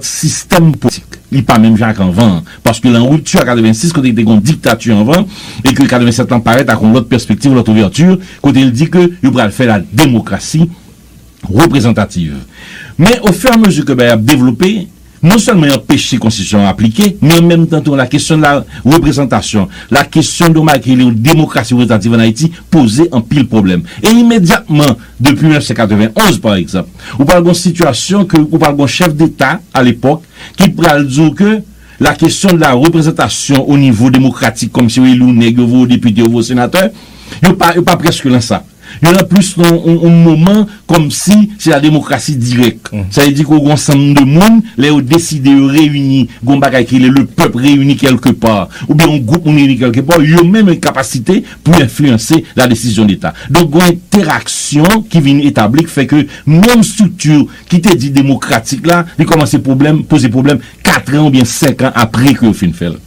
sistèm politik li pa menm jan ak anvan an, paske l an ripti ak 86 kote te gen yon diktati anvan e ke 87 lan parèt ak yon lòt pèspektiv, yon lòt ouvèti kote l di ke yo pral fè la demokrasi reprezantativ. Men o fè a mezi ke bagay ap devlope, non sèlman y anpeche konstitisyon an aplike, men an menm tan tou la kesyon de la reprezantasyon, la kesyon de yon bagay ki rele yon demokrasi reprezantativ an Ayiti poze anpil pwoblèm. E imedyatman, Depi 1991, pa egzanp, ou pral gon sitiyasyon ke ou pral gon chèf deta a lepòk ki pral di w ke la kesyon de la reprezantasyon o nivo demokratik kòm si yo eli w nèg, yo voye w depite, yo voye w senatè, yo pa, yo pa prèske lan sa. Yo lan plis lan yon moman kòm si se la demokrasi dirèk. Sa vle di ke w gon sanm de moun, lè yo deside yo reyini, gon bagay ki rele le pèp reyini kèlke pa, oubyen yon gwoup moun reyini kèlke pa, yo menm yo gen kapasite pou enfliyanse la desizyon deta. Donk gwen enteraksyon ki vin etabli k fè ke menm strikti ki te di demokratik la, li kòmanse pwoblèm, poze pwoblèm katran oubyen senkan apre ke yo fin fè l.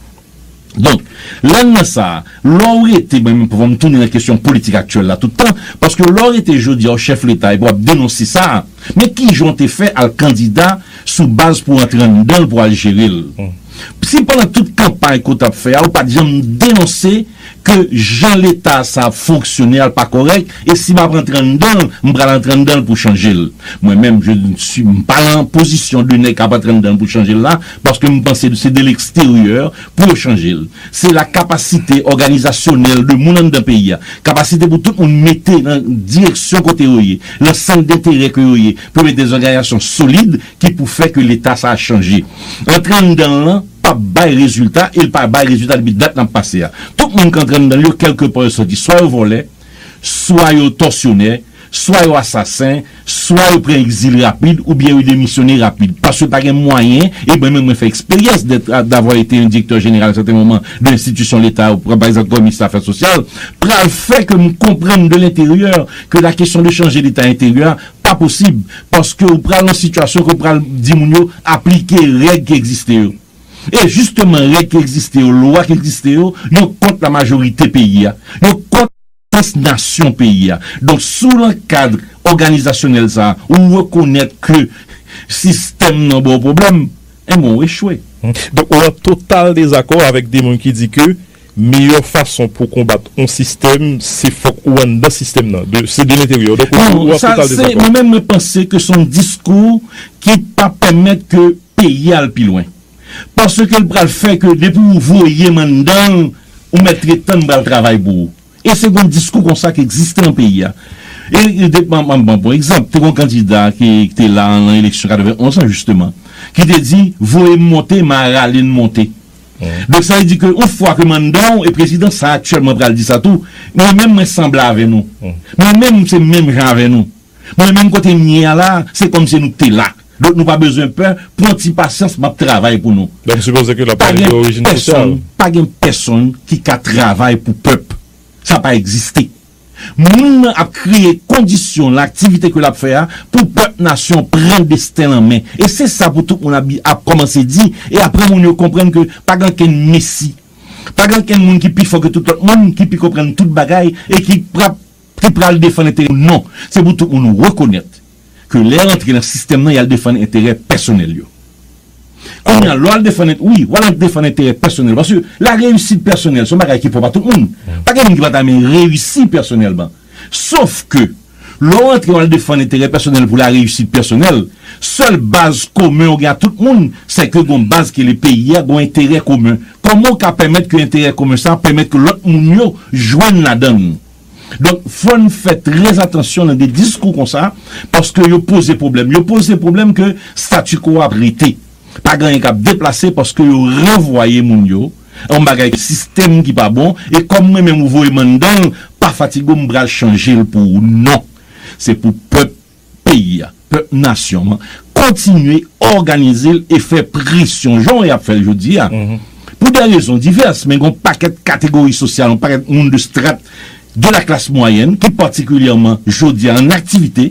Donk, lè n nan sa a, lè w rete, mwen menm fò m tounen nan kesyon politik aktyèl la tout tan, paske lè w rete jodi a w chèf leta epi w ap denonse sa a, men kijan w te fè al kandida sou baz pou w antre anndan l pou w al jere l. Si pandan tout kanpay ke w t ap fè a ou pa t janm denonse, ke jan leta sa ap fonksyone a l pa kòrèk e si m ap antre anndan l m pral antre anndan l pou chanje l mwen menm je ne suis m pa lan pozisyon de nèg k ap antre anndan l pou chanje l la paske m panse se de leksteryè pou yo chanje l se la kapasite òganizasyonèl de moun anndan peyi a kapasite pou tout moun mete nan direksyon kote yo ye lan sant denterè ke yo ye pou yo mete dezòganizasyon solid ki pou fè ke leta sa a chanje. Antre anndan l lan pa p bay rezilta e l pa bay rezilta depi dat n ap pase a. Tout moun k antre anndan l yo kèlke pa yo sòti swa yo vòlè, swa yo tòsyonè, swa yo asasen, swa yo pran egzil rapid oubyen yo demisyone rapid paske pa gen mwayen e mwen menm mwen fè eksperyans dèt davwa ete yon direktè jeneral a sèten moman de enstitisyon leta yo pran pa egzanp kòm minis afè sosyal pral fè ke m konprann de lenteryè ke la kesyon de chanje leta enteryè a Pa posib, paske ou pral nan sitiyasyon ke ou pral di moun yo aplike règ ki egziste yo. E jisteman règ ki egziste yo, lwa ki egziste yo, yo kont la majorite peyi a. Yo kont sans nasyon peyi a. Donk si w lan kad òganizasyonèl sa a, ou rekonèt ke sistèm nan ba w pwoblèm, enben ou echwe. Donk ou an total dezakò avèk de moun ki di ke. Meyè fason pou konbat on sistèm se fòk ou anndan sistèm nan. De, se de l'interieur. Donk ou an total dezakò. Mwen menm mwen panse ke son diskou ki pa pèmèt ke peyi a al pi lwen. Paske l pral fè ke depi ou voye m anndan l, ou mèt ret tan m pral travay pou ou. E se gon diskou konsa ki egziste nan peyi a. E de, m ap ban pou egzanp, te gon kandida ki te la nan eleksyon 91 an jisteman, ki te di, voye m monte, m a rale n monte. Donk sa vle di ke yon fwa ke manda w e prezidan sa aktyèlman pral di sa tou, mwen menm mwen sanble avè nou. Mwen menm m se menm jan avè nou. Mwen menm kote m ye a la a, se kòmsi nou te la. Donk nou pa bezwen pè, pran ti pasyans m ap travay pou nou. Donk m sipoze ke l ap pale de orijin sosyal. Pa gen pèsonn ki ka travay pou pèp. Sa pa egziste. Moun nan ap kreye kondisyon lan aktivite ke lap fè a pou pèp nasyon an pran desten l an men. E se sa pou tout moun ap bi ap kòmanse di e apre moun yo konprann ke pa gen okenn mesi. Pa gen okenn moun ki pi fò ke tout lòt moun, ki pi konprann tout bagay e ki prap, ki pral defann enterè moun non. Se pou tout moun rekonèt. ke lè rantre nan sistèm nan yal defann enterè pèsonèl yo. Kounya lè wal defann ent wi wal antre defann enterè pèsonèl paske la reyisit pèsonèl son bagay ki pwòp a tout moun. Pa gen moun ki pa ta men reyisi pèsonèlman. Sof ke lè w antre wal defann enterè pèsonèl pou la reyisit pèsonèl, sèl baz komen w gen a tout moun sè ke gon baz ki rele peyi a, gon enterè komen. Kòman w ka pèmèt ke enterè komen sa pèmèt ke lòt moun yo jwenn ladann? Donk fò n fè trè atansyon nan de diskou konsa paske yo poze pwoblèm. Yo poze pwoblèm ke statu quo a ap rete. Pa gen anyen k ap deplase paske yo ranvwaye moun yo. Yon bagay ke sistèm ki pa bon e kòm mwen menm ou voye m anndan l, pa fatige w m pral chanje l pou ou. Non! Se pou pèp peyi a, pèp nasyon an kontinye òganize l e fè presyon jan y ap fè l jodi a pou dè rezon divès men gen yon pakèt kategori sosyal, yon pakèt moun de strat de la klas mwayèn ki patikilyèman jodi a an aktivite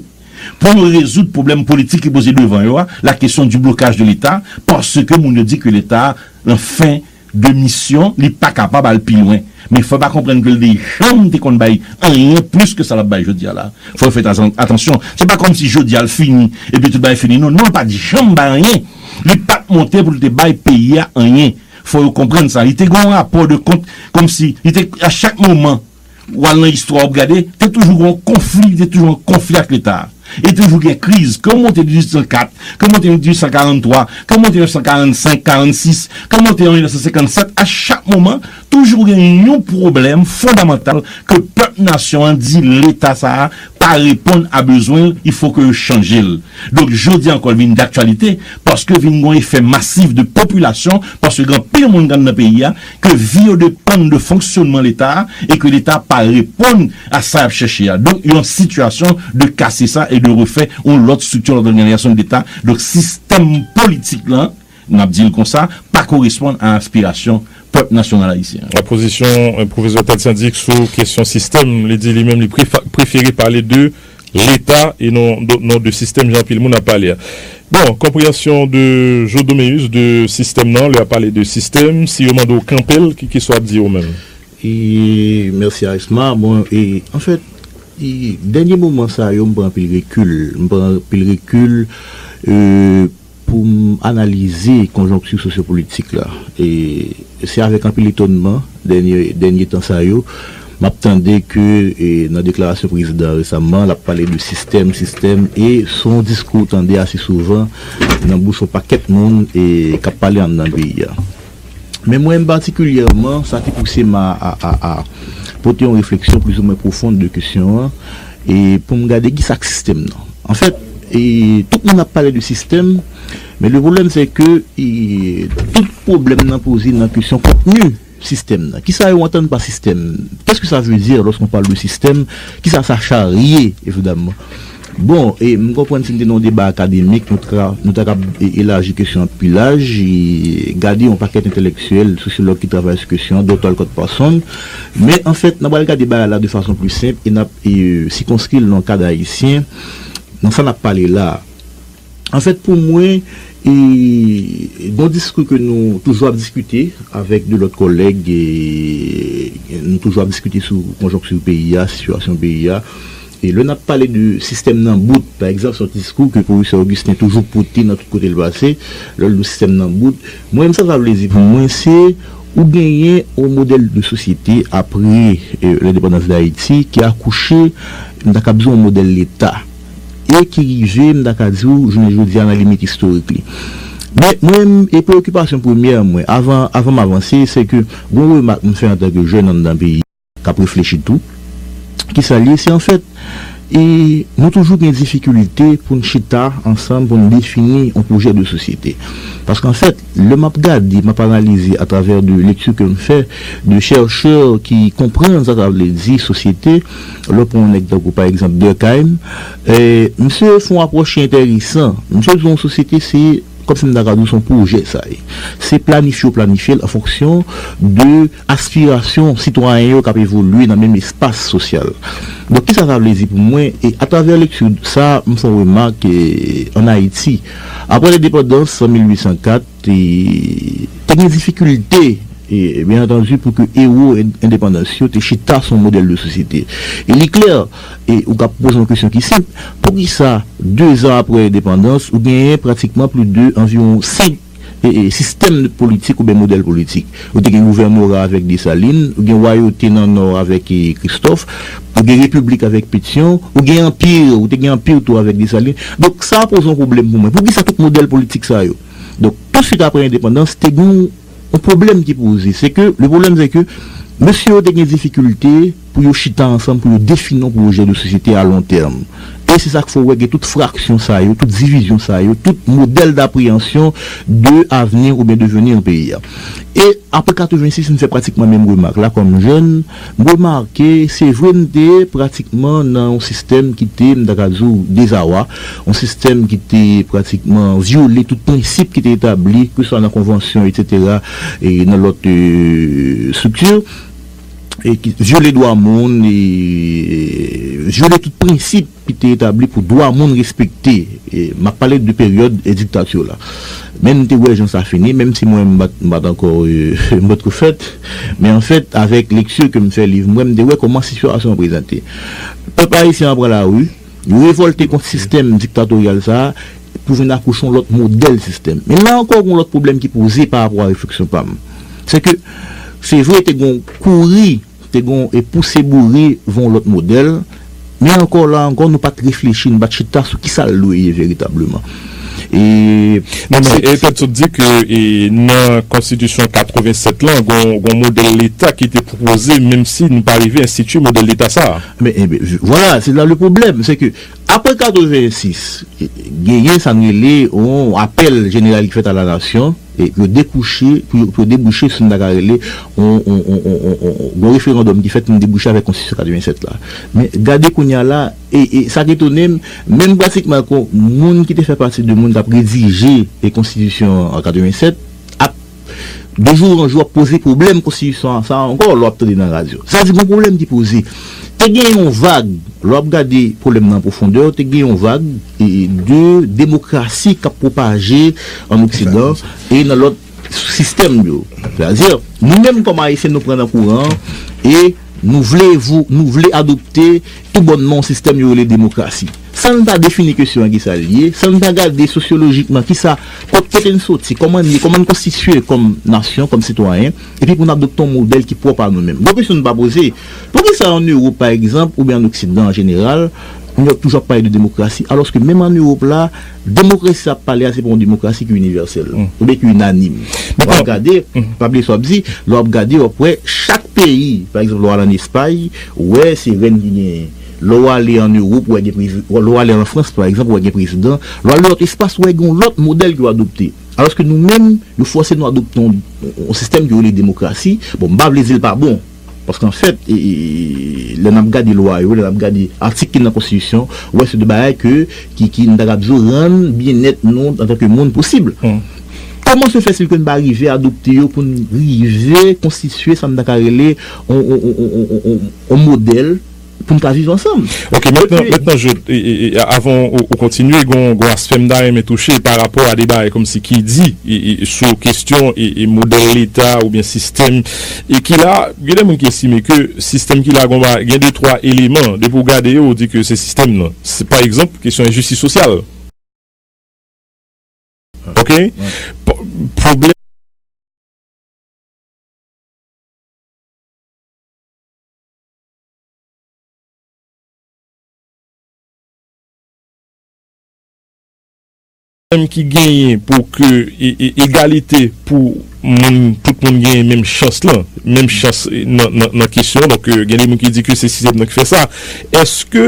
pou yo rezoud pwoblèm politik ki poze devan yo a, la question du blocage de l'Etat, paske moun yo di ke Leta a nan fen. de misyon li pa kapab al pi lwen men fò pa konprann ke l de janm te konn bay anyen plis ke sa l ap bay jodi a la fò yo fè atansyon se pa kòm si jodi a l fini epi tout bagay fini non non l pa t janm bay anyen li pa t monte pou l te bay peyi a anyen fò yo konprann sa li te gen yon rapò de kont kòm si li te a chak moman. W al nan istwa w ap gade, te toujou gen yon konfli, te toujou gen yon konfli ak Leta a. E toujou gen kriz. Ke w monte 1804, ke w monte 1843, ke w monte 1945, 46, ke w monte an 1957, a chak moman, toujou gen yon pwoblèm fondamantal ke pèp nasyon an di Leta sa a pa reponn a bezwen l, il fo ke yo chanje l. Donk jodi a ankò li vin daktyalite, paske vin gen yon efè masif de popilasyon, paske gen anpil moun anndan peyi a, ke vi yo depann de fonksyonman Leta a e ke Leta pa reponn a sa y ap chèche a. Donk, yon sitiyasyon de kase sa e de refè yon lòt strikti, yon lòt òganizasyon Leta. Donk, sistèm politik la, n ap di l konsa, pa koresponn a aspirasyon pèp nasyonal ayisyen an. Pozisyon Pwofesè Ted St-Dic sou kesyon sistèm, li di li menm li prefere pale de. Leta e non non de sistèm jan anpil moun ap pale a. Bon, konpreyansyon de Joe Doméus de sistèm nan, lè yap pale de sistèm, si yo mande w kanpe l, ki kisa w ap di yo menm? Mèsi Arisma, bon e anfèt e dènye moman sa yo m pran anpil rekil, m pran anpil rekil e. Pou m analize konjonkti sosyopolitik la, se avèk anpil etonnman dènye tan sa yo m ap tande ke nan deklarasyon prezidan an resamman l ap pale de sistèm, sistèm e s on diskou w tande ase souvan nan bouch yon pakèt moun k ap pale anndan peyi a. Men mwen menm patikilyèman, sa ki pouse m a pote yon refleksyon plizoumwen pwofon de kesyon an, e pou m gade kisa k sistèm nan. Anfèt, tout moun ap pale de sistèm, men le pwoblèm se ke tout pwoblèm nan poze nan kesyon kontni sistèm nan. Kisa yo antann pa sistèm? Kèske sa vle di lòske on pale de sistèm? Kisa sa charye evidamman? Bon, e m konprann si n te nan yon deba akademik, nou ta nou ta kab elaji kesyon an pi laj, e gade yon pakèt entelektyèl, sosyològ ki travay sou kesyon an, Dòkta Olcott Parsons. Men, anfèt, n ap pral gade bagay la de fason pli senp e n ap sikonskri l nan kad ayisyen, nan sa n ap pale la a. An fèt pou mwen, gon diskou ke nou toujou ap diskite avèk 2 lòt kòlèg, nou toujou ap diskite sou konjonkti peyi a, sitiyasyon peyi a. E lè nap pale de sistèm nan bout, pa egzanp, se yon diskou ke pwofesè Augustin toujou pote nan tout kote l pase, lè l di sistèm nan bout. Mwen menm sa sa vle di pou mwen, se ou genyen yon modèl de sosyete apre lendepandans Dayiti ki akouche, m ta kab di yon modèl leta. e ki rive, m ta ka di w, jounen jodi a nan limit istorik li. Men, mwen menm, e preokipasyon premyè mwen, avan, avan m avanse, se ke gon remak m fè antanke jèn anndan peyi a, k ap reflechi tou. Ki sa l ye? Se anfèt, e, nou toujou gen difikilte pou n chita ansanm pou n defini on pwojè de sosyete. Paske anfèt, lè m ap gade, m ap analize atravè de lekti ke m fè, de chèrchè ki konprann sa sa vle di sosyete, Lè w pran yon nèg tankou pa egzanp Durkheim, misye fè yon apwòch ki enteresan. Misye di yon sosyete se, kòmsi m ta ka di w, se yon pwojè sa ye. Se planifye yo planifye l an fonksyon de aspirasyon sitwayen yo k ap evolye nan menm espas sosyal. Donk kisa sa vle di pou mwen? E atravè lekti sa a, m fè yon remak, ann Ayiti, aprè lendepandans an 1804, Te gen difikilte, byen antandu, pou ke ewo endepandans yo te chita sou yon modèl de sosyete. E li klè, e ou ka poze yon kesyon ki senp, poukisa dezan apre endepandans ou genyen pratikman plis de anviwon senk sistèm politik oubyen modèl politik? Ou te gen gouvènora avèk Desalin, ou gen wayote nan Nò avèk Kristòf. Ou gen repiblik avèk Petion, ou gen anpir, ou te gen anpir tou avèk Desalin. Donk sa poze yon pwoblèm pou mwen. Pou ki sa tout modèl politik sa yo? Donk touswit apre endepandans te gen yon pwoblèm ki poze. Se ke, le pwoblèm se ke mesye yo te gen difikilte pou yo chita ansanm pou yo defini yon pwojè de sosyete a lon tèm. E se sa k fè ou wè gen tout fraksyon sa yo, tout divizyon sa yo, tout modèl dapreyansyon de avni oubyen deveni yon peyi a. E apre 86 m fè pratikman menm remak la kòm jèn. M remake, se vre m te pratikman nan yon sistèm ki te, m ta ka di w, dezawa, yon sistèm ki te pratikman vyole tout prensip ki te etabli, keswa nan konvansyon etsetera e nan lòt estrikti, vyole dwa moun e vyole tout prensip. ki te etabli pou dwa moun respekte, m ap pale de peryòd diktatur la, men nou te wè jan sa fini, menm si mwen m pa t ankò, m pa t ko fèt, men an fèt avèk lektur ke m fè liv mwen, m te wè kòman situasyon an prezante. Pèp ayisyen an pran lari, yo revòlte kont sistèm diktatoryal sa a pou vin akouche yon lòt modèl sistèm. Men la ankò gen yon lòt pwoblèm ki poze pa rapò a refleksyon pa m, se ke se vre te gen yon kouri, Te gon e pouse boure von lòt modèl, men ankò la ankò nou pat reflechi nou pat chita sou kisa l dwe ye veritableman. E. Non men e tèt sot di ke e nan konstitisyon 87 lan gon gon modèl leta ki te pwopoze menm si nou pa rive enstiti modèl leta sa a. Men e ben vwala se la le pwoblèm se ke apre 86 genyen sa n rele yon apèl jeneral ki fèt a la nasyon. Pou yo debouche sou sa m ta ka rele yon referandòm ki fèt pou n debouche avèk konstitisyon 87 la. Men gade kounye a la, e sa k etone m, menm pratikman kon moun ki te fè pati de moun k ap redije konstitisyon an 87 ap de jou an jou ap poze pwoblèm konstitisyon sa a ankò lè w ap tande nan radyo. Sa vle di gon pwoblèm ki poze. Te gen yon vag, lè w ap gade pwoblèm nan an pwofondè, te gen yon vag. de demokrasi k ap pwopaje ann oksidan e nan lòt sistèm yo. Sètadi, nou menm kòm Ayisyen nou pran nan kouran e nou vle vou nou vle adopte tou bònman yon sistèm yo rele demokrasi. San n pa defini kesyon an ki sa l ye, san n pa gade sosyolojikman ki sa kot kote n soti, kòman n ye, kòman n konstitiye kòm nasyon, kòm sitwayen, epi pou n adopte yon modèl ki pwòp a nou menm. Gwo kesyon n pa poze, poukisa ann Ewop pa egzanp oubyen ann oksidan an jeneral, Nou wè toujou ap pale de demokrasi alòske menm an Ewop la demokrasi sa ap pale a se pa yon demokrasi ki inivèsèl oubyen ki inanim. Lè w ap gade, pa bliye sa w ap di, lè w ap gade w ap wè chak peyi pa egzanp lè w al an Espay ou wè se rèn ki genyen, lè w ale an Ewop ou wè gen prezidan, lè w ale an Frans pa egzanp ou wè gen prezidan, lè w ale nan lòt espas ou wè gen yon lòt modèl yo adopte. Alòske nou menm yo fòse nou adopte yon sistèm yo rele demokrasi, bon m pa vle di l pa bon, Paske anfèt, lè n ap gade lwa yo, lè n ap gade atik ki nan konstitisyon, ou wè se de bagay ke, ki, ki, m ta kab di w, rann byennèt nou antanke moun posib. Kòman se fè si ke n pa rive adopte yo pou n rive konstitye sa m ta ka rele yon, yon, yon, yon, yon, yon modèl? pou n ka viv ansanm. Ok, mentnan, mentnan je, avan ou kontinye, gon, gon aspè m ta renmen touche pa rapò a de bagay kòmsi ki di sou kestyon modèl leta oubyen sistèm ki la. Gen de moun ki estime ke sistèm ki la gon ba, gen de twa eleman, depi ou gade yo ou di ke se sistèm nan. Pa egzanp, kestyon enjistis sosyal. Ok? Pwoblèm. Pwoblèm ki genyen pou ke egalite pou moun, tout moun genyen menm chans lan, menm chans nan kesyon, donk gen de moun ki di ke se sistèm nan ki fè sa, èske.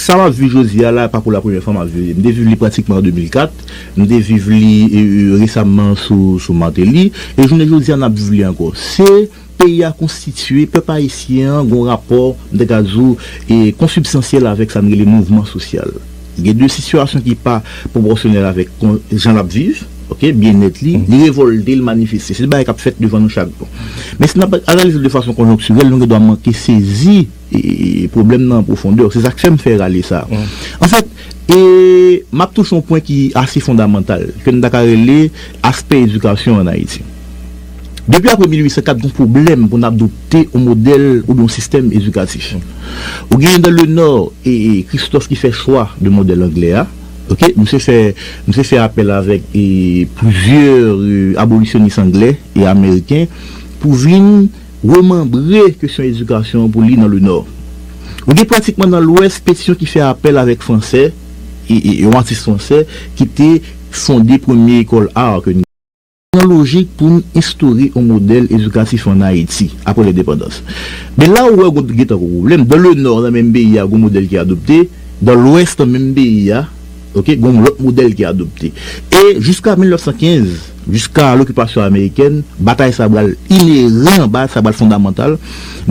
Sa map viv jodi a la pa pou la premyè fwa map viv li. M te viv li pratikman an 2004, m te viv li resamman sou Martelly, e jounen jodi a nap viv li ankò. Se peyi a konstitye, pèp ayisyen an gon rapò m te ka di w konsibstansyèl avèk sa n rele mouvman sosyal. Gen de sitiyasyon ki pa pwopòsyonèl avèk jan lap viv, ok, byennèt li, li revòlte, li manifeste. Se bagay kap fèt devan nou chak jou. Men si nap analize l de fason konjonktirèl nou gen dwa manke sezi. Pwoblèm nan an pwofondè. Se sa k fè m fè rale sa. Anfèt, m ap touche yon pwen ki ase fondamantal, ke n ta ka rele aspè edikasyon ann Ayiti. Depi apre 1804, gen yon pwoblèm pou n adopte yon modèl oubyen yon sistèm edikatif. Ou genyen dan le Nò Christophe ki fè chwa de modèl anglè a. Misye fè misye fè apèl avèk plizyè abolisyonis anglè e ameriken pou vin. Remanbre kesyon edikasyon an pou li nan Lenò. Ou gen pratikman nan Lwès petisyon ki fè apèl avèk franse, yon atis franse ki te fonde premye ekòl ar ke n gen. Nan lojik pou n enstore yon modèl edikatif ann Ayiti apre lendepandans. Men la ou wè ou gen tankou pwoblèm, dan Lenò nan menm peyi a gen yon modèl ki adopte, dan Lwès nan menm peyi a, Ok, gen yon lòt modèl ki adopte. E jiska 1915, jiska lokipasyon amerikèn, batay sa pral ineran, batay sa pral fondamantal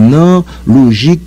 nan lojik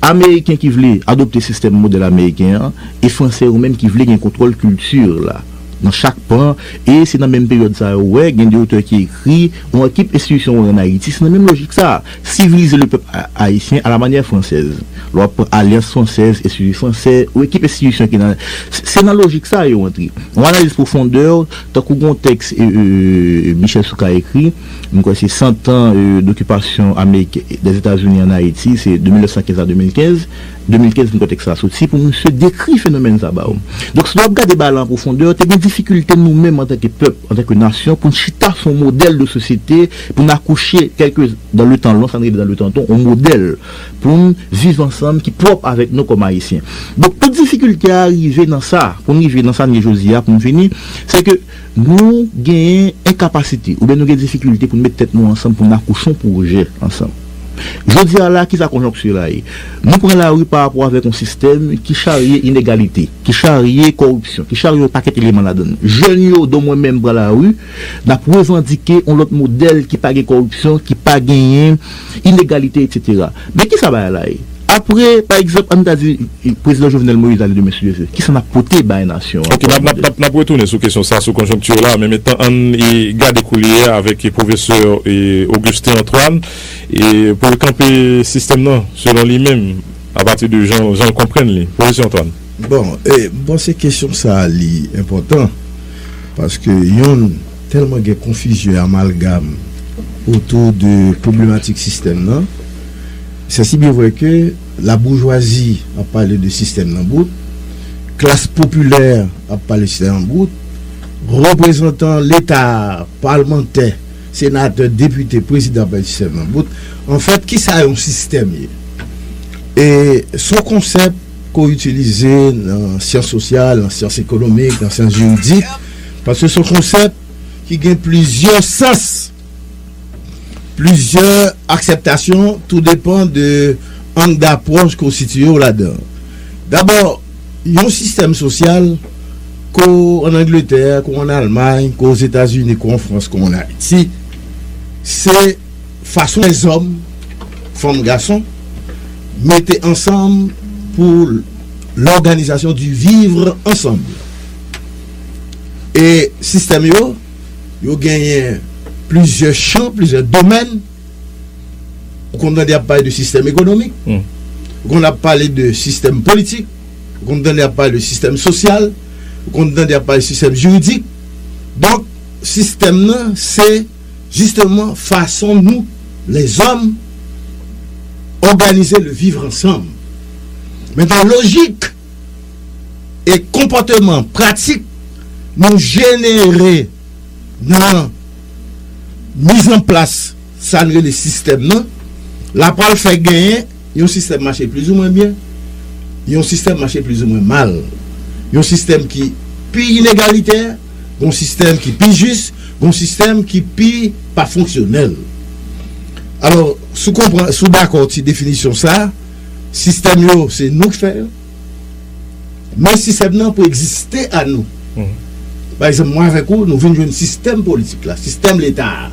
Ameriken ki vle adopte sistèm modèl ameriken an e Franse yo menm ki vle gen kontwòl kilti la nan chak pan. E se nan menm peryòd sa a ou wè gen de otè ki ekri yon ekip enstitisyon wè ann Ayiti. Se nan menm lojik sa a. Sivilize le pèp Ayisyen a la manyè fransèz. Lè w ap pran alyans fransèz, enstiti fransè, ou ekip enstitisyon ki nan. Se nan lojik sa a yo antre. Yon analiz pwofondè, tankou gon tèks Michel Soukar ekri, m kwè se San tan dokipasyon Amerik, Dèzetazini ann Ayiti, se de 1915 a 2015. 2015 m kote'k sa soti pou misye dekri fenomèn sa ba ou. Donk si nou ap gade ba la an pwofondè, te gen difikilte nou menm antanke pèp, antanke nasyon pou n chita sou yon modèl de sosyete pou n akouche kèlke dan le tan lon sa n rele dan le tan ton yon modèl pou n viv ansanm ki pwòp avèk nou kòm ayisyen. Donk tout difikilte a rive nan sa pou n rive nan sa n ye jodi a pou m fini se ke Nou genyen enkapasite oubyen nou gen difikilte pou n met tèt nou ansanm pou n akouche yon pwojè ansanm. Jodi a la, ki sa konjonkti la ye? Nou pran lari pa rapò avèk yon sistèm ki charye inegalite, ki charye kòripsyon, ki charye yon pakèt eleman ladan l. Jèn yo, don mwen menm, pran lari, n ap revandike yon lòt modèl ki pa gen kòripsyon, ki pa genyen. inegalite etc. Men kisa bagay la ye? Apre pa egzanp ann ta di prezidan Jovenel Moïse ale demen si Dye vle, kisa n ap pote bay nasyon an? Ok, n ap n ap retounen sou kesyon sa, sou konjonkti la, men mentan ann gade koulye a avèk pwofesè Augustin Antoine pou l kanpe sistèm nan selon li menm apati de jan l konprann li. Pwofesè Antoine. Bon, m panse kesyon sa li enpòtan paske yon. Tèlman gen konfizyon e amalgam otou de pwoblematik sistèm nan, sè si byen vrè ke laboujwazi ap pale de sistèm nan bout, klas popilè ap pale sistèm nan bout, reprezantan leta, palmantè, senatè, depite, prezidan ap pale sistèm nan bout. Anfèt, kisa yon sistèm ye? E son konsèp ke w itilize nan syans sosyal, nan syans ekonomik, nan syans jiridik. Paske se yon konsèp ki gen plizyè sans, plizyè aksèptasyon, tou depan de ang dapwòch ke w sitiye w ladan. Dabò, yon sistèm sosyal, ke w ann Angletè, ke w ann Almay, ke w Ozetazini, ke w an Frans, ke w ann Ayiti, se fason lèzòm, fanm, gason, mete ansanm pou lòganizasyon di vivre ensemble. E sistèm yo, yo genyen plizyè chan, plizyè domèn. Ou konn tande y ap pale de sistèm ekonomik, ou konn ap pale de sistèm politik, ou konn tande y ap pale de sistèm sosyal, ou konn tande y ap pale de sistèm jiridik. Donk, sistèm nan se jisteman fason nou, lèzòm, òganize le vivre ansanm. Mentan lojik. e konpòteman pratik nou jenere nan mizanplas sa n rele sistèm nan l a pral fè genyen yon sistèm mache plizoumwen byen, yon sistèm mache plizoumwen mal, yon sistèm ki pi inegalitè, yon sistèm ki pi jis, yon sistèm ki pi pa fonksyonèl. Alò, si w dakò ti definisyon sa a. Sistèm yo se nou k fè yo men sistèm nan pou egziste a nou pa egzanp mwen avèk ou nou vin jwenn sistèm politik la sistèm leta a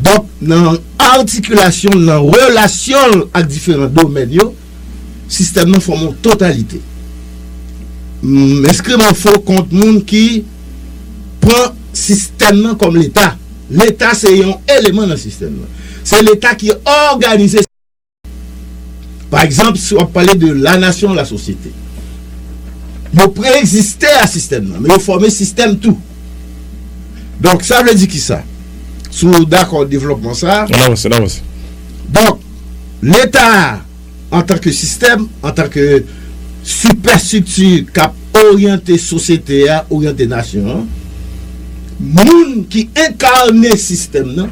donk nan atikilasyon l nan relasyon l ak diferan domèn yo sistèm nan fòme yon totalite m enskri m an fo kont moun ki pran sistèm nan kòm leta leta se yon eleman nan sistèm nan se leta ki òganize. Pa egzanp, si w ap pale de lanasyon, lasosyete. Yo pre-egziste a sistèm nan, men yo fòme sistèm tou. Donk, sa vle di ki sa? Si w dakò devlòpman sa a. An avanse, an avanse. Donk, Leta a, antanke sistèm, antanke sipèstrikti k ap oryante sosyete a, oryante nasyon an, moun ki enkane sistèm nan,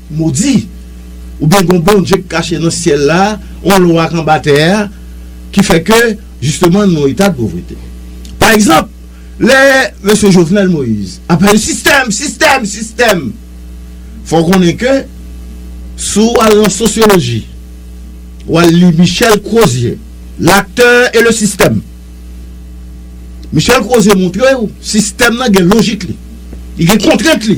Modi! Oubyen gon Bondye k kache nan syèl la, yon lwa k anba tè a ki fè ke jisteman nou nan eta de povrete. Pa egzanp, lè Mesye Jovenel Moïse ap pale sistèm, sistèm, sistèm, fò w konnen ke si w al nan sosyoloji, w al li Michel Crozier, L'acteur et le système. Michel Crozier montre w sistèm nan gen lojik li, li gen kontrent li.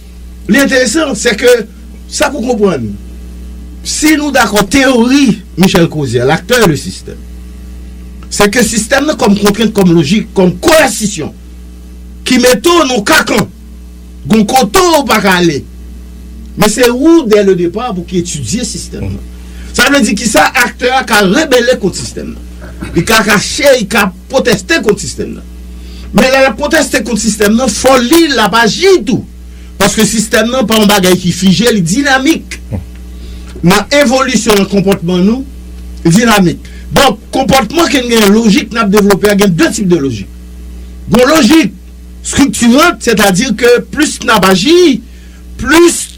Li enteresan, se ke sa pou konprann, si nou dakò teyori Michel Crozier, l'acteur et le système, se ke sistèm nan kòm kontrent, kòm lojik, kòm koèsisyon ki mete w nan kakan, gon kote w pa ka ale, men se ou dè le depar pou ki etidye sistèm nan. Sa vle di ki sa aktè a ka rebele kont sistèm nan. Li ka kache, li ka pwoteste kont sistèm nan. Men lè l ap konteste kont sistèm nan, fò li l ap aji tou. Paske sistèm nan pa yon bagay ki fije, li dinamik. Nan evolisyon nan konpòtman nou, li dinamik. Donk, konpòtman ke n genyen, lojik n ap devlope a, gen de tip de lojik. Gon lojik striktirant, sètadi ke plis n ap aji, plis.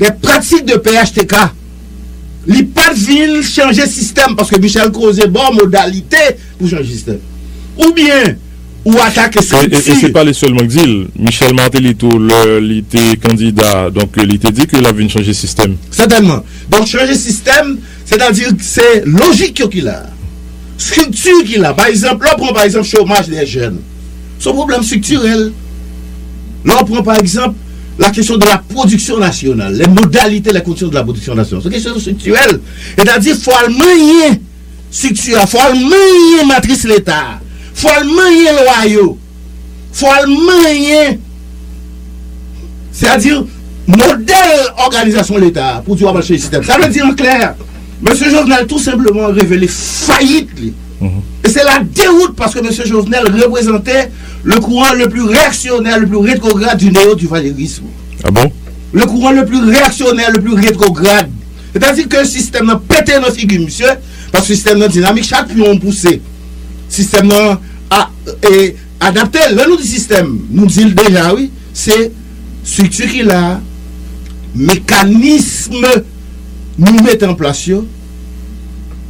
des pratiques de phtk li pat vin chanje sistèm paske Michel koze baw modalite pou chanje sistèm ou byen ou atake strikti. E se pa li sèlman k di l, Michel Martelly tou lè li te kandida donk li te di ke lap vin chanje sistèm. Sètènman. Donk chanje sistèm sètadi k se lojik yo ki la, strikti ki la pa egzanp lè w pran pa egzanp chomaj dè jèn. Se yon pwoblèm striktirèl. Lè ou pran pa egzanp la kesyon de la pwodiksyon nasyonal, lè modalite, lè kondisyon de la pwodiksyon nasyonal, se yon kesyon striktirèl. Etadi fò al manyen strikti a, fò al manyen matris Leta a, fò al manyen lwa yo, fò al manyen sètadi modèl òganizasyon Leta a pou di w ap al chanje sistèm. Sa vle di an klè, Mesye Jovenel tou senpleman revele fayit li. E se la dewout paske mesye Jovenel reprezante le kouran le pli reyaksyonè, le pli retrograd di neo-duvalerism. A bon? Le kouran le pli reyaksyonè, le pli retrograd. Se ta di ke sistèm nan pete nan figi misye, paske sistèm nan dinamik, chak pyon ou pouse, sistèm nan a, e, adapte l. Lè nou di sistèm, nou di l deja wi, se strikti ki la, mekanism nou mete an plas yo,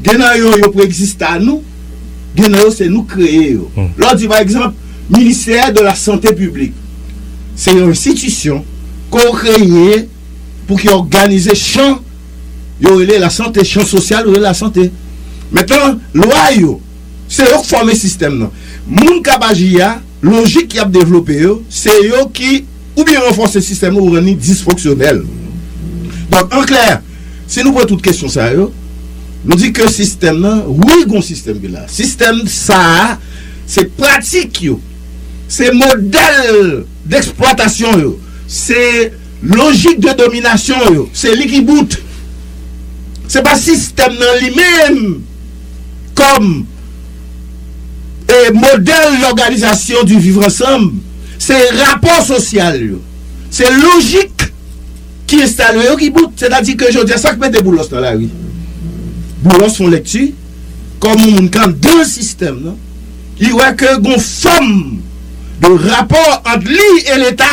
Gen nan yo, yo preegziste a nou, gen nan yo se nou k kreye yo. Lè w di pa egzanp, ministè de la sante piblik, se yon enstitisyon ke w kreye pou ki òganize chan yo rele lasante, chan sosyal yo rele lasante. Mentnan, lwa yo, se yo k fòme sistèm nan. Moun k ap aji a. Lojik ki ap devlope yo, se yo ki oubyen ranfòse sistèm ou rann li disfonksyonèl. Donk, an klè, si nou pran tout kesyon sa yo, nou di ke sistèm nan, wi gon sistèm ki la. Sistèm sa a, se pratik yo, se modèl deksplwatasyon yo, se lojik de dominasyon yo, se li ki bout. Se pa sistèm nan li menm kòm. e modèl lòganizasyon di viv ansanm se rapò sosyal yo, se lojik ki enstale yo ki bout. Sètadi ke jodi a sa k mete Boulos nan lari? Boulos fon lèkti kòm yon moun k anndan sistèm nan, li wè ke gon fòm de rapò ant li e leta.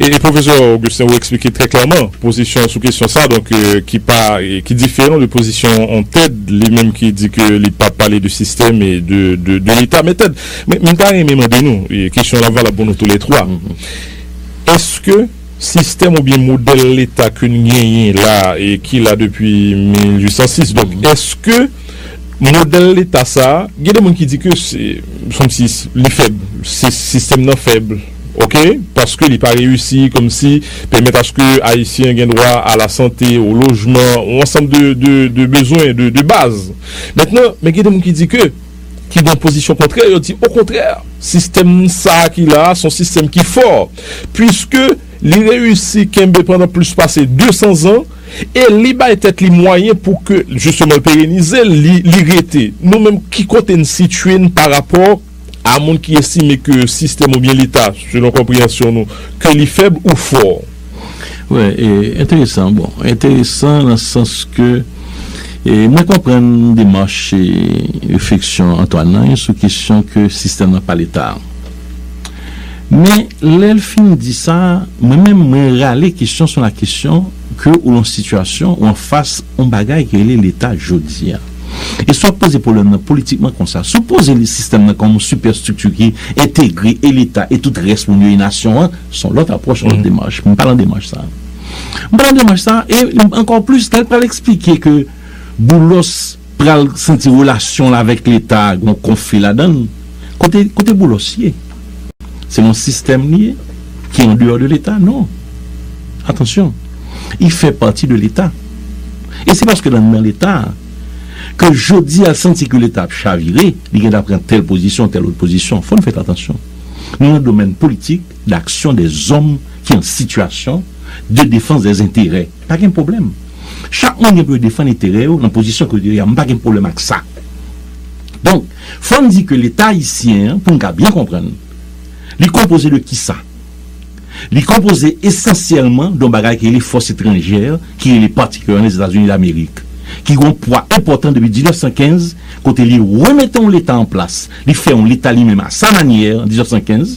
E pwofesè Augustin ou eksplike trè klèman pozisyon ou sou kesyon sa donk ki pa ki diferan de pozisyon on Ted li menm ki di ke li pa pale de sistèm e de leta men Ted m ta renmen mande nou e kesyon la valab pou nou tou lè twa èske sistèm ou byen modèl leta ke n genyen la e ki la depi 1806 donk èske modèl leta sa gen de moun ki di ke se kòmsi li fèb sistèm nan fèb. Ok paske li pa reyisi komsi pèmèt aske ayisyen gen dwa a la sante o lojman on ansanm de de de bezwen de de baz mentnan men gen de moun ki di ke ki nan pozisyon kontrè yo di o kontrè sistèm sa ki la a son sistèm ki fò pwiske li reyisi kenbe pandan plis pase 200 zan e li bay tèt li mwayen pou ke jisteman l perenize l li rete nou menm ki kote n sitye n pa rapò A moun ki estime ke sistèm oubyen leta, selon konpreyansyon nou, ke li fèb ou fò. Wè, e enteresan. Bon, enteresan nan sans ke mwen konprann demach e refleksyon Antoine nan sou kesyon ke sistèm nan pa leta a. Men, lè l fin di sa, mwen menm mwen rale kesyon sou lakesyon ke ou lan sitiyasyon ou anfas on bagay ki rele leta jodi a. E si w ap poze pwoblèm nan politikman konsa, si w poze li sistèm nan kòm yon sipèstrikti ki entegre e Leta e tout rès moun yo e nasyon an, se yon lòt apwòch, yon lòt demach. M pa lan demach sa a. M pa lan demach sa a e ankò plis lè l pral esplike ke Boulos pral santi relasyon l avèk Leta a gen yon konfli ladan l. Kote Boulos ye? Se yon sistèm li ye ki an deyò de leta? Non. Atansyon, li fè pati de leta. E se paske l anndan leta a ke jodi a l santi ke leta ap chavire, li gen dwa pran tèl pozisyon, tèl lòt pozisyon. Fò n fèt atansyon. Nou nan domèn politik, daksyon dè zòm ki an sitiyasyon de defans dè zenterè. Pa gen pwoblèm. Chak moun gen pou yo defann enterè yo nan pozisyon kote yo ye a. M pa gen pwoblèm ak sa. Donk. Fò n di ke Leta ayisyen an, pou n ka byen konprann, li konpoze de kisa? Li konpoze esansyèlman don bagay ki rele fòs etranjè ki rele patikilyaman Lèzetazini Damerik, ki gen yon pwa enpòtan depi 1915, kote li remete yon Leta an plas, li fè yon Leta li menm a sa manyè an 1915,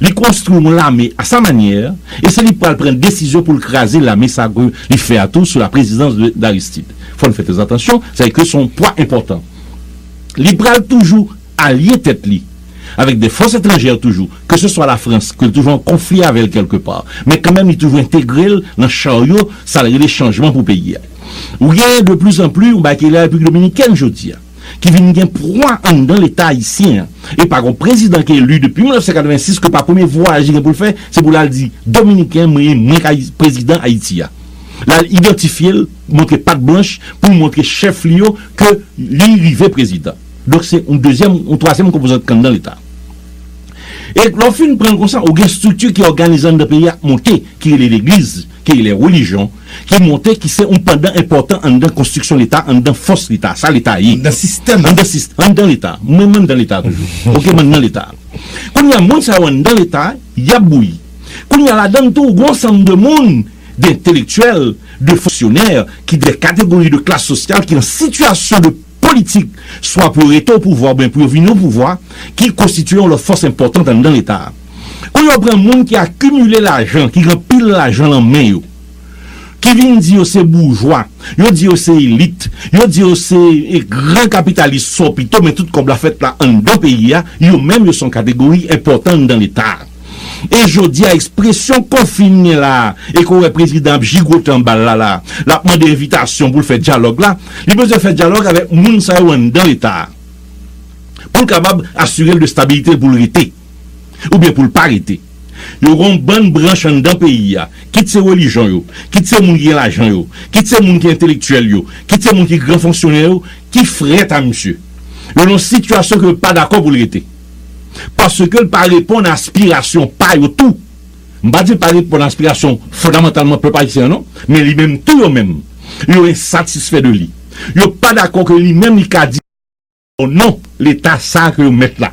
li konstwi yon lame a sa manyè, e se li k pral pran desizyon pou l kraze lame sa ke li fè a tou sou laprezidans de Aristide. Fò n fè trèzatansyon, sèke se yon pwa enpòtan. li pral toujou alye tèt li avèk de fòs etranjè toujou, ke se swa Lafrans ke l toujou an konfli avè l kèlke pa, men kanmenm li toujou entegre l nan charyo sa l rele chanjman pou peyi a. Ou genyen de pli zan pli yon bagay ki rele Repiblik Dominikèn jodi a, ki vin gen pwa anndan Leta ayisyen an, e pa gon prezidan ki eli depi 1986 ke pa premye vwayaj li gen pou l fè, se pou l al di Dominiken mwen, mwen ka prezidan Ayiti a. L al idantifye l. montre pat blanch pou l montre chèf li yo ke li rive prezidan. Donk se yon dezyèm, yon twazyèm konpozant kan nan leta. E lè w fin pran l konsa, ou gen estrikti ki òganize anndan peyi a k monte, ki rele legliz, ki rele relijyon, ki monte, ki se yon pandan enpòtan anndan konstriksyon leta, anndan fòs leta, sa leta ye. Anndan sistèm lan. Anndan sistèm, anndan leta. Mwen menm anndan leta toujou. Ok, m anndan leta. Kounye a, moun sa yo anndan leta, y ap bouyi. Kounye a, ladann tou, ou gen yon ansanm de moun. de entelektyèl, de fonksyonè, ki de kategori de klas sosyal ki an sitiyasyon de politik swa pou yo rete o pouvwa oubyen pou yo vini o pouvwa, ki konstitiye yon lòt fòs enpòtant anndan Leta a. Kou yo pran moun ki akimile lajan, ki gen anpil lajan lan men yo, ki vin di yo se boujwa, yo di yo se elit, yo di yo se gran kapitalis sò pito men tout kòb la fèt la anndan peyi a, yo menm yo se yon kategori enpòtan anndan Leta a. E jodi a espresyon ko fin gen la a e ko wè prezidan ap jigote anba l la la a, l ap mande envitasyon pou l fè dyalòg la, li bezwen fè dyalòg avèk moun sa yo anndan leta a pou l kabab asire l de stabilite l pou l rete oubyen pou l pa rete. Yo gen yon bann branch anndan peyi a, kit se relijyon yo, kit se moun ki gen lajan yo, kit se moun ki entelektyèl yo, kit se moun ki gran fonksyonè yo ki frèt a misye. Yo nan yon sitiyasyon ke yo pa dakò pou l rete. Paske l pa reponn a aspirasyon pa yo tou. M pa di l pa reponn a aspirasyon fondamantalman pèp ayisyen an non. Men li menm tou yo menm, yo ensatisfè de li. Yo pa dakò ke li menm li ka di o non Leta sa a ke yo mèt la.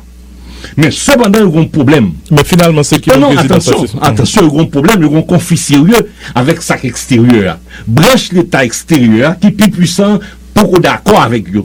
Men sepandan yo gen yon pwoblèm. Men finalman se ki moun prezidan sa se. Atansyon, yo gen yon pwoblèm, yo gen yon konfli serye avèk sa k eksteryè a. Branch Leta eksteryè a ki pi pwisan an poko dakò avèk yo.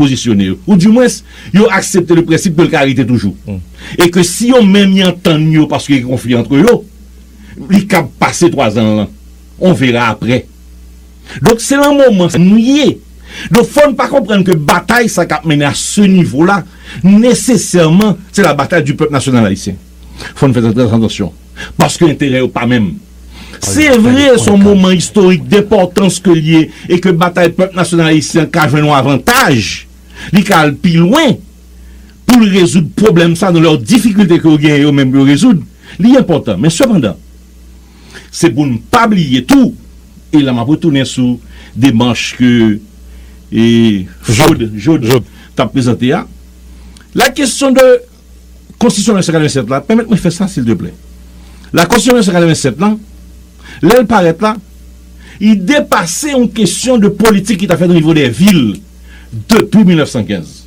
pozisyone yo, ou di mwens yo aksepte le prensip ke l ka rete toujou, e ke si yo menm y antann yo paske gen konfli antre yo, li kab pase twazan l lan, on verra après. Donk se lan moman sa nou ye. Donk fò n pa konprann ke batay sa k ap mennen a se nivo la, nesesèman se la batay du pèp nasyonal ayisyen. Fò n fè trè trè atansyon, paske enterè yo pa menm. Se vre, s on moman istorik denpòtans ke l ye e ke batay pèp nasyonal ayisyen an ka jwenn yon avantaj, li ka al pi lwen pou l rezoud pwoblèm sa nan lò difikilte ke yo genyen yo menm pou yo rezoud, li enpòtan. Men sepandan, se pou n pa bliye tou, e la m ap retounen sou demach ke Job t ap prezante a, la kesyon de. Konstitisyon 1987 la, pèmèt mwen fè sa silteplè. La Konstitisyon 1987 lan, lè l parèt la, li depase yon kesyon de politik ki ta fèt nan nivo de vil depi 1915.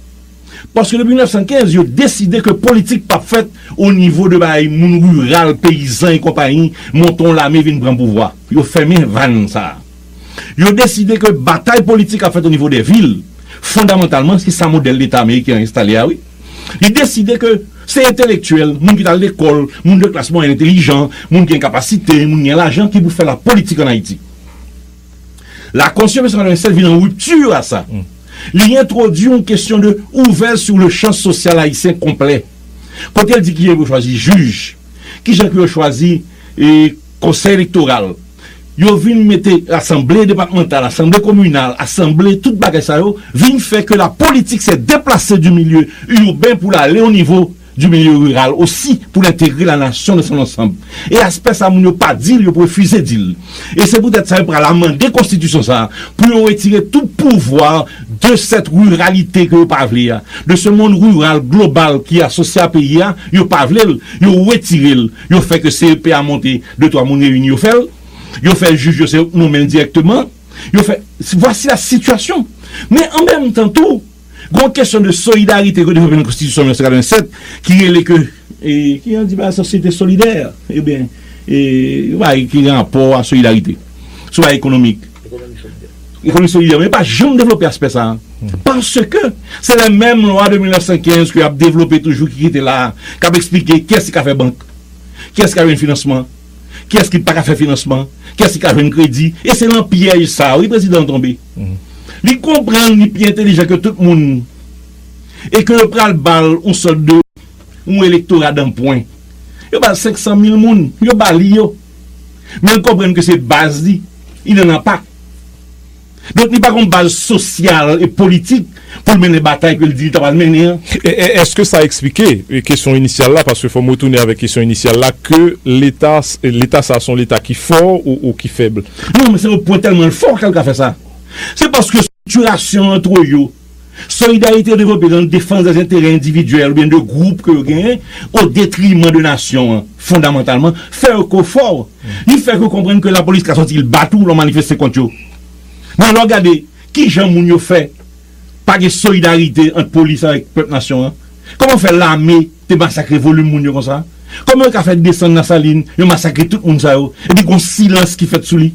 Paske depi 1915, yo deside ke politik pa p fèt o nivo de bay moun riral, peyizan e konpayi monte yon lame vin pran pouvwa. Yo fèmen vàn sa a. Yo deside ke batay politik ap fèt o nivo de vil, fondamantalman se sa modèl Leta ameriken an enstale a wi. Li deside ke se entelektyèl, moun ki t al lekòl, moun de klas mwayèn entelijan, moun ki gen kapasite, moun ki gen lajan ki pou fè lapolitik ann Ayiti. Lakòs yo 1987 vin an ripti a sa. Li entwodui yon kesyon de ouvè sou le chan sosyal ayisyen konplè, kote l di kijan yo chwazi jij, kijan pou yo chwazi konsèy elektoral, Yo vin mete asanble depatmantal, asanble kominal, asanble, tout bagay sa yo vin fè ke la politik sè deplase di milye urben pou l ale o nivo di milye riral osi pou l entegre la nasyon nan son ansanb. E aspè sa moun yo pa di l, yo prefize di l. E se poutèt sa yo pral amande konstitisyon sa pou yo retire tout pouvwa de sèt riralite ke yo pa vle a, de se monn riral global ki asosye a peyi a, yo pa vle l, yo retire l. Yo fè ke CEP a monte de twa moun reyini yo fè l. Yo fè jij yo se yo k nonmen l dirèkteman. Yo fè vwasi la sitiyasyon. Men an menm tan tou gen yon kesyon de solidarite ke devlope nan konstitisyon 1987 ki rele ke ki an di pa sosyete solidè e ben e yon bagay ki gen rapò a solidarite sou bagay ekonomik. Ekonomi solidè men yo pa janm devlope aspè sa a. Paske se lè menm lwa de 1915 ke y ap devlope toujou ki rete la a, k ap eksplike kiyès ki ka fè bank, kiyès ki ka jwenn finansman, kiyès ki pa ka fè finansman, kiyès ki ka jwenn kredi. E se nan pyèj sa a wi prezidan an tonbe. Li konprann li pi entelijan ke tout moun e ke yo pral ba l yon sòt de yon elektora danpwen. Yo ba l 500 mil moun, yo ba li yo. Men l konprann ke se baz li, li nan lanpa. Donk li pa gon baz sosyal e politik pou l mennen batay ke l di li ta pral mennen an. Eske sa eksplike kesyon inisyal la, paske fò m retounen avèk kesyon inisyal la, ke leta, leta sa a se yon leta ki fò ou ki fèb? Non, men se yon pwen tèlman l fò ke l ka fè sa. Se paske sitirasyon an two yo. Solidarite yo devlope nan defans de enterè endividyèl oubyen de gwoup ke yo genyen o detriman de nasyon an, fondamantalman, fè yo ko fò. Li fè ke w konprann ke lapolis ka sòti l bat ou lè w manifeste kont yo. Men lè w gade kijan moun yo fè pa gen solidarite ant polis avèk pèp nasyon an? Kòman fè lame te masakre volim moun yo konsa? Kòman yo ka fè desann nan Salin, yo masakre tout moun sa yo, epi gon silans ki fèt sou li?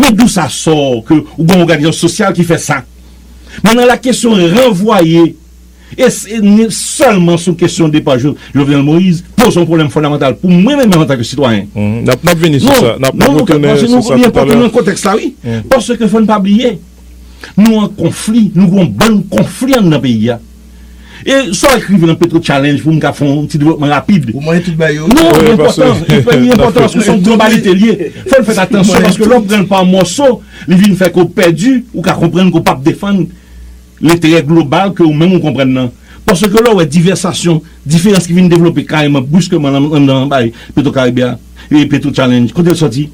Men dou sa sò ke w gen yon òganizasyon sosyal ki fè sa? Men nan la kesyon ranvwaye e se ni sèlman sou kesyon depa Jovenel Moïse poze yon pwoblèm fondamantal pou mwen menm antanke sitwayen. N ap vini sou sa. Non, non, Luca, paske nou li enpòtan nan kontèks la wi. Paske fò n pa bliye, nou an konfli, nou gen yon bann konfli anndan peyi a. E sa w ekri nan petro challenge pou m ka fè yon ti devlopman rapid? Ou manyen tout bagay yo? Non, li enpòtan, li enpòtan paske se yon globalite li ye. Fò n fè atansyon paske lè w pran l pa mòso, li vin fè ke w pèdi, ou ka konprann ke w pap defann lenterè global ke ou menm ou konprann nan. Paske lè w wè divèsasyon, diferans ki vin devlope kareman, briskeman anndan bagay petro karibe a, petro challenge, kote l sòti?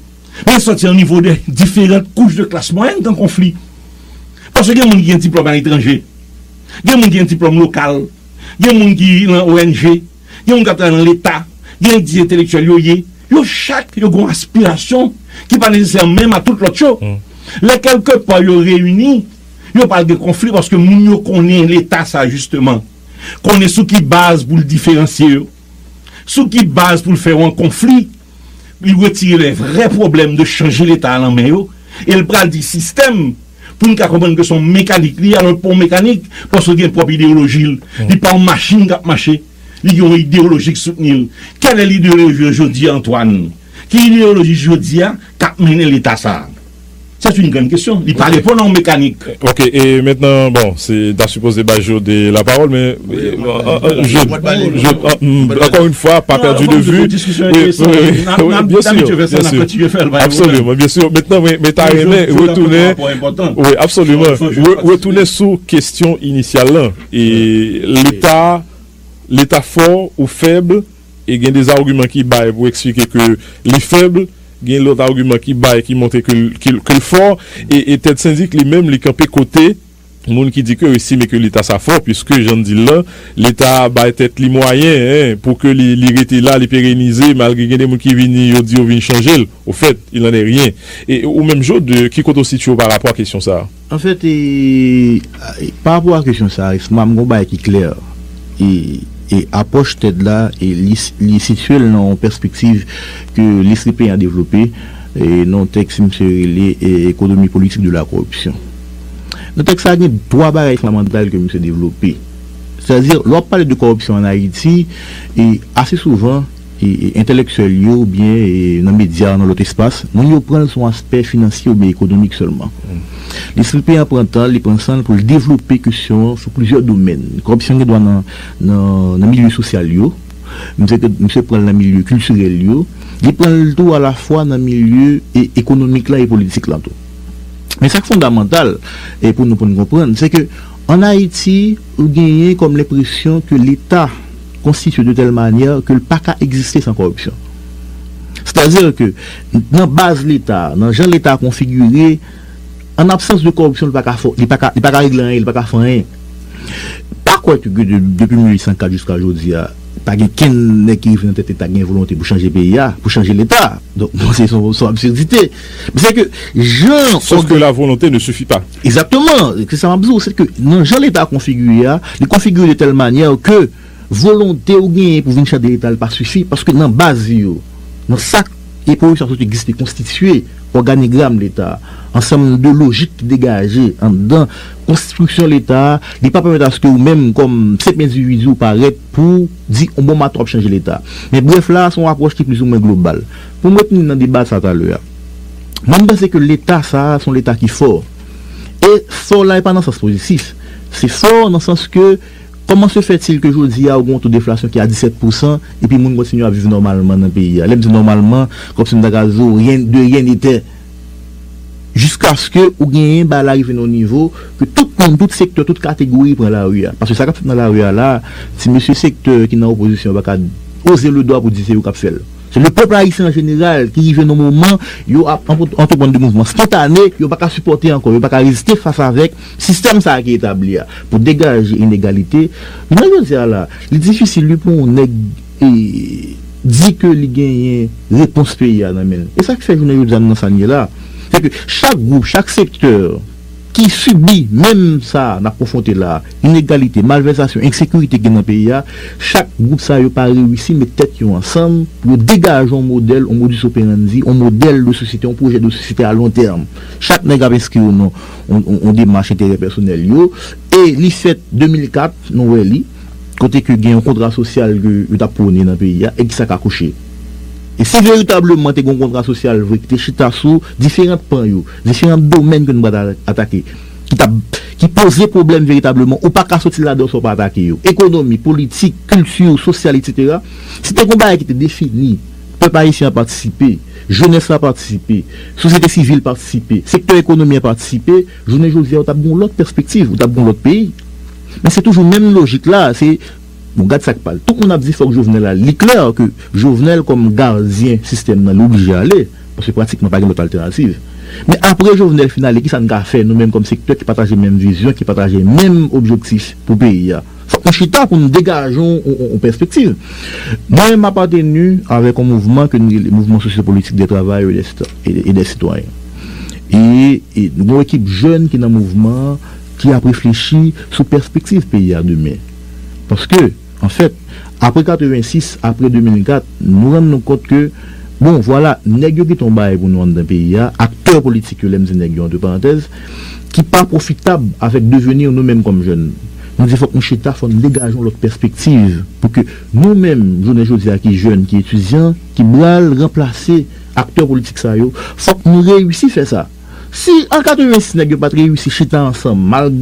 Men sòti nan nivo de diferant kouch de klas mwayèn kan konfli. Paske gen moun ki gen diplòm aletranje, gen moun ki gen diplòm lokal, gen moun ki nan ONG, gen moun k ap travay nan Leta, gen yo k di entelektyèl yo ye. Yo chak yo gen yon aspirasyon ki pa nesesèman menm a tout lòt yo. Lè kèlke pa yo reyini, yo pral gen konfli paske moun yo konnen Leta sa jisteman konnen sou ki baz pou l diferansye yo. Sou ki baz pou l fè yon konfli, li retire lè vrè pwoblèm de chanje leta a nan men yo, e l pral di sistèm, pou n ka konprann ke se yon mekanik li ye, alò l pa yon mekanik, paske l gen pwòp ideyoloji l, li pa yon machin k ap mache, li gen yon ideyoloji k soutni l. Kèlè lideyoloji yo jodi a Antwàn? Ki ideyoloji jodi a k ap mennen leta sa a? C'est une grande question. Li pa reponn a yon mekanik. Ok, e mentnan bon, se ta sipoze bay Jode la pawòl men Jode, ankò yon fwa pa pèdi de vi, absoliman, byen sur, mentnan mwen ta renmen retounen, wi, absoliman, retounen sou kestyon inisyal lan, e leta, leta fò ou fèb? E gen de argument ki bay pou explike ke li faible, gen lot argument ki bay ki montre ke l fort, e Ted Syndic li menm li kanpe kote moun ki di ke yo estime ke leta sa fort puiske jan n di l lan, leta a bay tèt li mwayen pou ke li rete la, li perenize malgre gen de moun ki vini yo di yo vin chanje l. Au fait, il n'en est rien. E ou menm Jaude, ki kote ou sitye w pa rapò a kesyon sa a? An fèt, pa rapò a kesyon sa a, SMAM gen yon bagay ki klè, e apwòch TED la, li sitye l nan yon pèspektiv ke Leslie Payne devlope nan yon tèks misye rele Économie politique de la corruption. Nan tèks sa a gen twa bagay fondamental ke misye devlope. Sètadi, lè w ap pale de kòripsyon an Ayiti, ase souvan, entelektyèl yo oubyen nan medya ou nan lòt espas, moun yo pran l sou yon aspè finansye oubyen ekonomik sèlman. Lespri peyan pran tan l, li pran san l pou l devlope kesyon an sou plizyè domèn. Kòripsyon gen dwa nan milye sosyal yo, misye pran l nan milye kiltirèl yo, li pran l tou alafwa nan milye ekonomik la e politik la tou. Men sa k fondamantal pou nou pou n konprann, se ke an Ayiti ou genyen kòm lenpresyon ke Leta, konstitye de tèl manyè ke l pa ka egziste san kòripsyon. Sètadi ke nan baz Leta, nan jan Leta konfigire, an absans de kòripsyon li pa ka fò, li pa ka, li pa ka regle anyen, li pa ka fè anyen. M pa kwè ke de, depi 1804 jiska jodi a, pa gen kenn nèg ki rive nan tèt Leta ki gen volonte pou chanje peyi a, pou chanje Leta. Donk, m panse se yon absidite. Men se ke jan ògan. Sof ke la volonte ne sifi pa. Egzakteman! Se sa m ap di w, se ke nan jan Leta konfigire a, li konfigire de tèl manyè ke volonte ou genyen pou vin chèf de Leta li pa sifi, paske nan baz li yo, nan sa eporik sa sot egziste, konstitye òganigram Leta a, ansanm de lojik ki degaje anndan konstriksyon Leta a, li pa pèmèt aske ou menm kòm senp endividi ou parèt pou w di on bon maten w ap chanje Leta. Men brèf la a se yon apwòch ki plizoumwen global. Pou m retounen nan deba sa talè a. Mwen m panse ke leta sa a se yon leta ki fò. E fò la e pa nan sans pozitif. Se fò nan sans ke kòman se fèt il ke jodi a ou gen yon to deflasyon ki a 17 pou san epi moun kontinye ap viv nòmalman nan peyi a. Lè m di nòmalman, kòm si m ta ka di w rien de rien n'était. Jiskaske ou genyen bagay la rive nan yon nivo ke tout moun, tout sektè, tout kategori pran lari a. Paske sa k ap fèt nan lari a la a, ti mesye sektè ki nan opozisyon pa ka oze le dwa pou di se yo k ap fè l. Se le pèp ayisyen an jeneral ki rive nan moman yo ap antreprann de mouvman spontane, yo pa ka sipòte ankò, yo pa ka reziste fas avèk sistèm sa a ki etabli a pou degaje inegalite. Jounen jodi a la, li difisil wi pou yon nèg di ke li genyen repons peyi a nan men l. E sa ki fè jounen jodi a nou nan sa n ye la, se ke chak gwoup, chak sektè, ki sibi menm sa a n ap konfwonte la a, inegalite, malvèsasyon, ensekirite ki gen nan peyi a, chak gwoup sa yo pa reyisi met tèt yo ansanm pou yo degaje yon modèl, yon modus operandi, yon modèl de sosyete, yon pwojè de sosyete a lon tèm. Chak nèg ap enskri yo nan yon demach enterè pèsonèl yo e li fèt 2004, nou wè li, kote ke gen yon kontra sosyal ke yo t ap pwone nan peyi a e ki sa k akouche. E si veritableman te gen yon kontra sosyal vre ki te chita sou diferant pan yo, Diferan domèn ke nou pral atake ki ta ki poze pwoblèm veritableman, ou pa ka soti ladan yo san w pa atake yo. Ekonomi, politik, kilti, sosyal etsetera. Si te gen yon bagay ki te defini, pèp ayisyen an patisipe, jenès la patisipe, sosyete sivil patisipe, sektè ekonomi an patisipe, jounen jodi a ou t ap gen yon lòt pèspektiv, ou t ap gen yon lòt peyi. Men se toujou menm lojik la a, se bon gad sa k pal. Tout moun ap di fòk Jovenel ale. Li klè ke Jovenel kòm gadyen sistèm nan li oblije ale. Paske pratikman pa gen lòt altènativ. Men apre Jovenel fin ale kisa n ka fè nou menm kòm sektè ki pataje menm vizyon, ki pataje menm objektif pou peyi a? Fòk nou chita pou nou degaje yon pèspektiv. Mwen menm m apateni avèk yon mouvman ke n rele Mouvman Sosyopolitik dè Travayè e dè Sitwayen. E nou gen yon ekip jèn ki nan mouvman an ki ap reflechi sou pèspektiv peyi a demen. Paske. Anfèt, apre 86, apre 2004, nou rann nou kont ke, bon, vwala, nèg yo gen ton bagay pou nou anndan peyi a, aktè politik yo, lè m di nèg yo antre parantèz, ki pa pwofitab avèk devenir nou menm kòm jèn. Nou di fòk nou chita, fò n degaje yon lòt pèspektiv pou ke nou menm, jounen jodi a ki jèn, ki etidyan, ki bral ranplase aktè politik sa yo, fòk nou reyisi fè sa. Si an 86 nèg yo pa t reyisi chita ansanm, malgre.